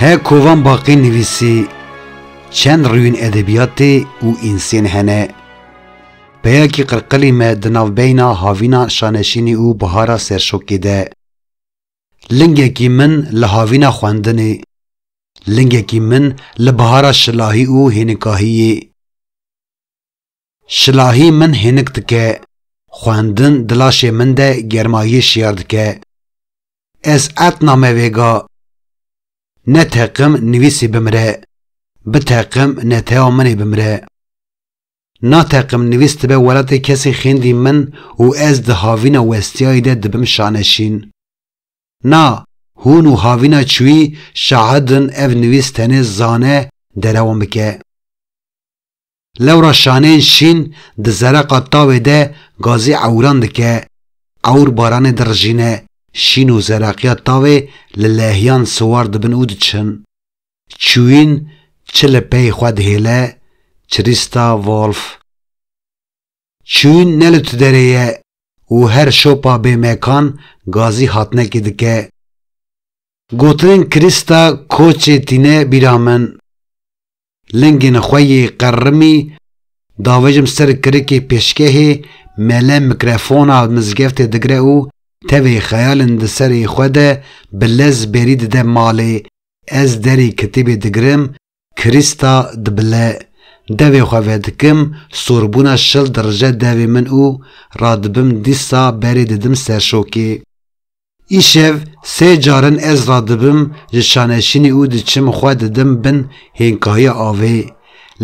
He kovan baqî nivîsî çend rûyên edebiyatê û însên hene. Peyakî qirqilî me di navbeyna havîna şaneşînî û bihara serşokê de. Lingekî min li havîna xwendinê, lingekî min li bihara şilahî û hênikahiyê. Şilahî min hênik dike. Xwendin di laşê min de germayiyê şiyar dike. Ez erd name vêga. Ne teqim nivîsî bimire. Bi teqim netewa min ê bimire. Na teqim nivîs dibe welatê kesê xêndî min û ez di havîna westiyayî de dibim şaneşîn. Na, hûn û havîna çûyî şahid in ev nivîs tenê zane derewan bike. Lewra şaneyên şîn di zereqa tavê de gazî ewran dike, ewr baranê dirijîne, şîn û zereqiya tavê li lehiyan siwar dibin û diçin. Çûyîn çi li pey xwe dihêle, Çirîsta Wolf. Çûn ne li tu derê ye û her şopa bê mekan gazî hatnekê dike. Gotinên Krîsta koçê tîne bîra min. Lingên xwe yê qerrimî davêjim ser kirikê pêşgehê, mele mikrefona mizgeftê digre û tevê xeyalên di serê xwe de bi lez bêrî dide malê, ez derê kitêbê digirim Krîsta dibile, devê xwe vedikim, sorbûna şil dirije devê min û radibim dîsa berê didim serşokê. Îşev sê car in ez radibim ji şaneşînê û diçim xwe didim bin hênkahiya avê.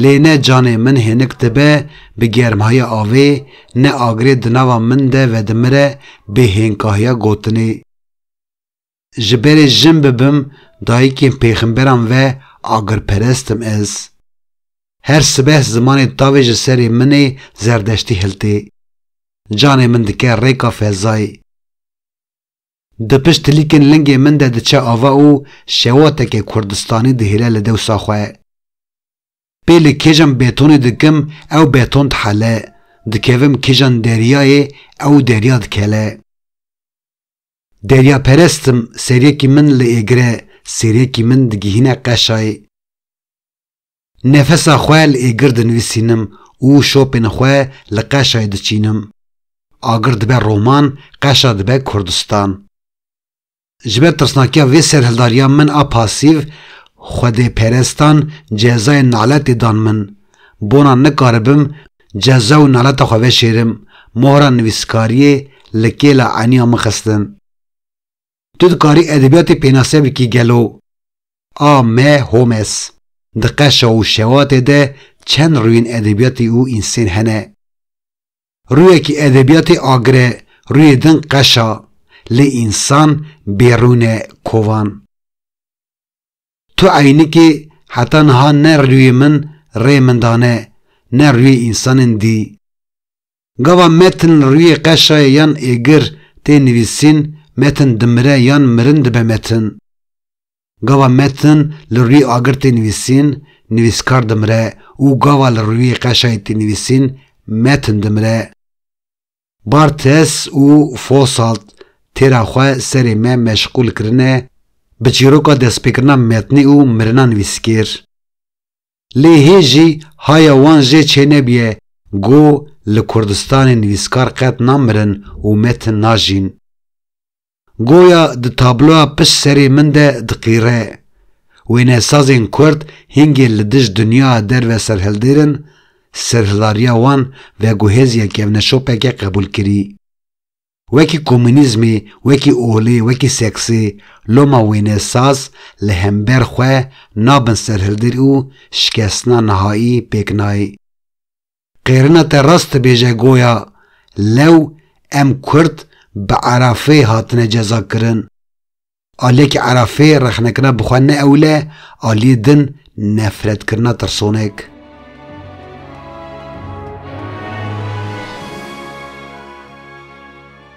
Lê ne canê min hênik dibe bi germhahiya avê, ne agirê di nava min de vedimire bê hênkahiya gotinê. Ji berê jin bibim dayikên pêxemberan ve agirperest im ez. Her sibeh zimanê tavê ji serê min ê zerdeştî hiltê. Canê min dike rêka fezayê. Di pişt tilîkên lingê min de diçe ava û şewateke kurdistanî dihêle li dewsa xwe. Pê li kêjan betonê dikim ew beton dihele, dikevim kêjan deryayê ew derya dikele. Deryaperest im, serêkî min li Êgre, serêkî min digihîne Qeşayê. Nefesa xwe li Êgir dinivîsînim û şopên xwe li Qeşayê diçînim. Agir dibe roman, Qeşa dibe Kurdistan. Ji ber tirsnakiya vê serhildariya min a pasîv, xwedêperestan cezayên naletê dan min. Bona nikaribim Ceza û naleta xwe veşêrim, mohra nivîskariyê li kêla eniya min xistin. Tu dikarî edebiyatê pênase bikî gelo? A. M. Holmes Di qeşa û şewatê de çend rûyên edebiyatê û însên hene. Rûyekî edebiyatê agir e, rûyê din qeş a. Lê însan bêrûn e, kovan. Tu eynikê heta niha ne rûyê min rê min dane ne rûyê însanên dî. Gava metin li rûyê qeşayê yan êgir tê nivîsîn metin dimire yan mirin dibe metin. Gava metin li rûyê agir tê nivîsîn nivîskar dimire û gava li rûyê qeşayê tê nivîsîn metin dimire. Barthes û Fosalt têra xwe serê me meşqûl kirine bi çîroka destpêkirina metnî û mirina nivîskêr. Lê hê jî haya wan jê çênebiye ku li Kurdistanê nivîskar qet namirin û metin najîn. Goya di tabloya pişt serê min de diqîre. Wênesazên Kurd hingê li dij dinyaya derve serhildêrin, serhilariya wan veguhêziya kevneşopeke qebûlkirî. Wekî komûnîzmê, wekî olê, wekî seksê, loma wênesaz li hember xwe nabin serhildêr û şikestina nihaî pêk nayê. Qêrina te rast dibêje goya lew em kurd bi erafê hatine ceza kirin. Aliyê ki erafê rexnekirina bi xwe neewile aliyê din nefretkirina tirsonek.